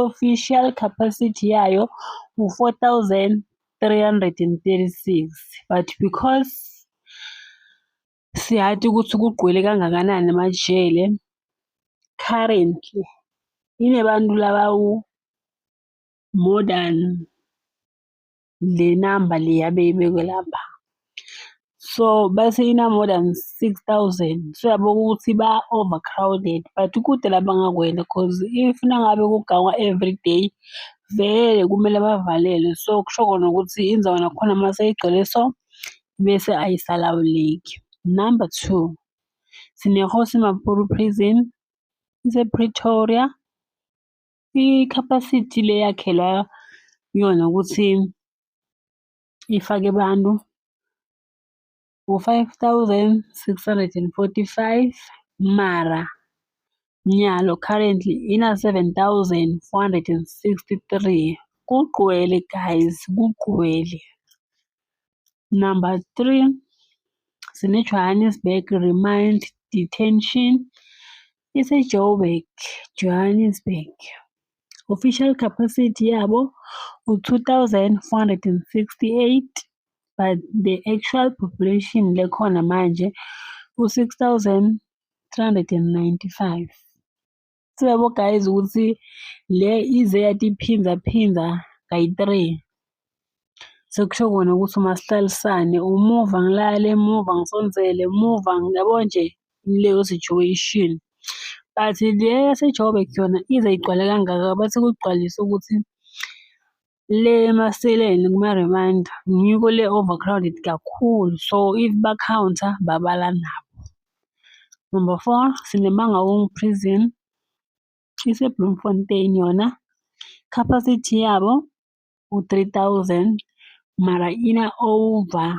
official capacity yayo u-4,336 but because siyati ukuthi kugqwele kangakanani emajele currently inebantu labawu-more than le namba le yabe ibekwe lapha so base ina-more than six thousand so yabona ukuthi ba-overcrowded but kude la bangakwenda cause if nangabe kugangwa every day vele kumele bavalelwe so kusho kona ukuthi indawo nakhona uma seyigcwele so bese ayisalawuleki number two sinehosi mapuru prison isepretoria I-capacity le yakhelwa yona ukuthi ifake abantu u-5,645 mara nyalo currently ina-7,463 kugcwele guys kugcwele number three sine-johannesburg remind detention iseJoburg, Johannesburg. Official capacity yabo u-2468 but the actual population lekhona manje u-6395. Sibabo guys ukuthi le ize yatiphindza phindza kayi-three. Sekusho kona ukuthi uma sihlalisane umuva ngilale emuva ngisondzele emuva yabo nje leyo situation. But le yaseJoburg yona ize igcwale kangaka bathi kugcwalisa ukuthi le emaseleni kuma-reminder ngiko le overcrowded kakhulu so if ba-counter babala nabo. Number four, Sinemangawongo Prison iseBloemfontein yona capacity yabo u-3000 mara ina over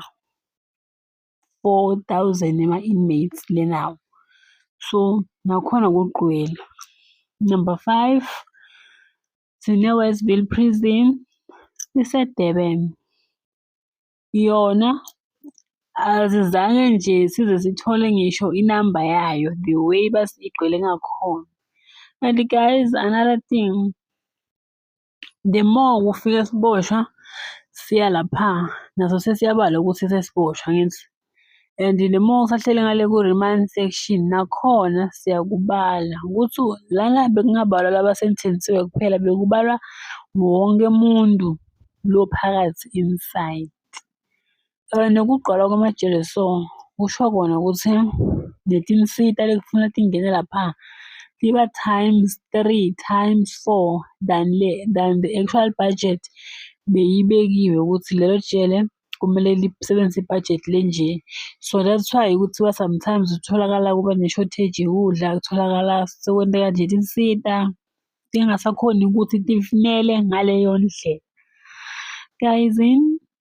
4000 ema-inmates lenawo so nakhona kugqwele number five sine-westville prison isedurban yona azizange nje size sithole ngisho inamba yayo the way basigcwele ngakhona and guys another thing the more kufike siboshwa siya lapha naso sesiyabala ukuthi sesiboshwa ngithi and the more usahlele ngale ku-remand section nakhona siyakubala ukuthi lana bekungabalwa laba senthenisiwe kuphela bekubalwa wonke umuntu lo phakathi inside Kanti ukugcwala kwamajele so kusho kona ukuthi netinsita lekufuna tingene lapha tiba times three times four than le than the actual budget beyibekiwe ukuthi lelo jele kumele lisebenzise ibhajethi lenje. So that's why kuthiwa sometimes kutholakala kuba ne-shortage yokudla, kutholakala sekwenteka nje tinsita tingasakhoni ukuthi tifinele ngaleyo ndlela. Guys